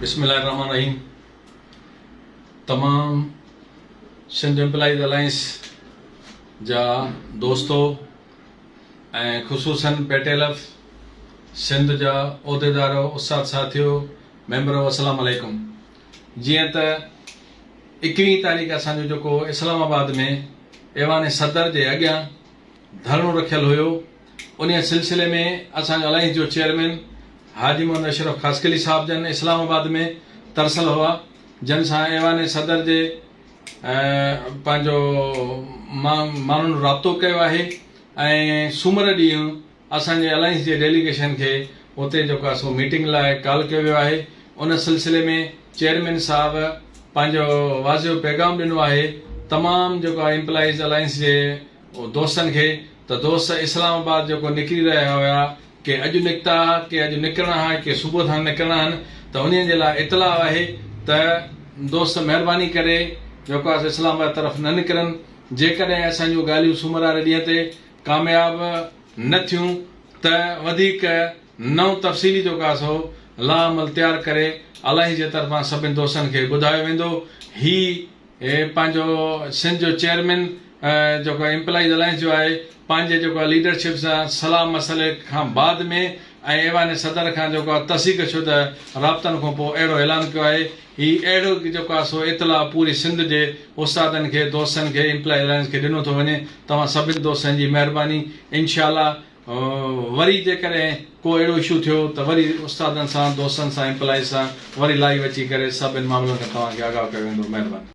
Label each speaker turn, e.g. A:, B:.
A: بسم الله الرحمن الرحيم تمام سنڌ امپلائيز الائنس جا دوستو ۽ خصوصاً پيٽيلف سنڌ جا عهديدارو استاد ساٿيو ميمبرو السلام عليڪم جيئن ته اڪويهين تاريخ اسان جو جيڪو اسلام آباد ۾ ايوان صدر جي اڳيان ڌرڻو رکيل هيو انهيء سلسلي ۾ اسان جي الائنس جو چيئرمين حاجي محمد اشرف خاصخيلي صاحب جن اسلام آباد ۾ ترسل هئا جن سان ايوان صدر جي پنهنجو ماڻهن رابطو ڪيو آهي ۽ سومر ڏينهن اسان جي الائنس جي ڊيليگيشن کي اتي جيڪو آهي سو ميٽنگ لاء ڪال ڪيو ويو آهي ان سلسلي ۾ چيئرمين صاحب پنهنجو واضح پيغام ڏنو آهي تمام جيڪو آهي امپلائيز الائنس جي هو دوستن کي ته دوست اسلام آباد جو ڪو نڪري رهيا هيا، ڪي اڄ نڪتا ها، ڪي اڄ نڪرڻا ها ۽ ڪي صبح سان نڪرڻا هن ته انهن جي لاء اطلاع آهي ته دوست مهرباني ڪري جيڪو آهي سو اسلام آباد طرف نه نڪرن، جيڪڏهن اسان جون ڳالهيون سومر واري ڏينهن تي ڪامياب نه ٿيون ته وڌيڪ نئون تفصيلي جيڪو آهي سو لائحه عمل تيار ڪري الاهي جي طرفان سڀني دوستن کي ٻڌايو ويندو، هي هي پنهنجو سنڌ جو چيئرمين جيڪو ايمپلائيز الائنس جو آهي پنهنجي جيڪو آهي ليڊرشپ سان صلاح مشوري کان بعد ۾ ۽ ايوان صدر کان جيڪو آهي تصيق شده رابطن کون پوء اهڙو اعلان ڪيو آهي هي اهڙو جيڪو آهي سو اطلاع پوري سنڌ جي استادن کي دوستن کي ايمپلائيز الائنس کي ڏنو ٿو وڃي توهان سڀن دوستن جي مهرباني انشاء الله وري جيڪڏهن ڪو اهڙو اشو ٿيو ته وري استادن سان دوستن سان ايمپلائيز سان وري لائيو اچي ڪري سڀن معاملن کان توهان کي آگاهه ڪيو ويندو مهرباني.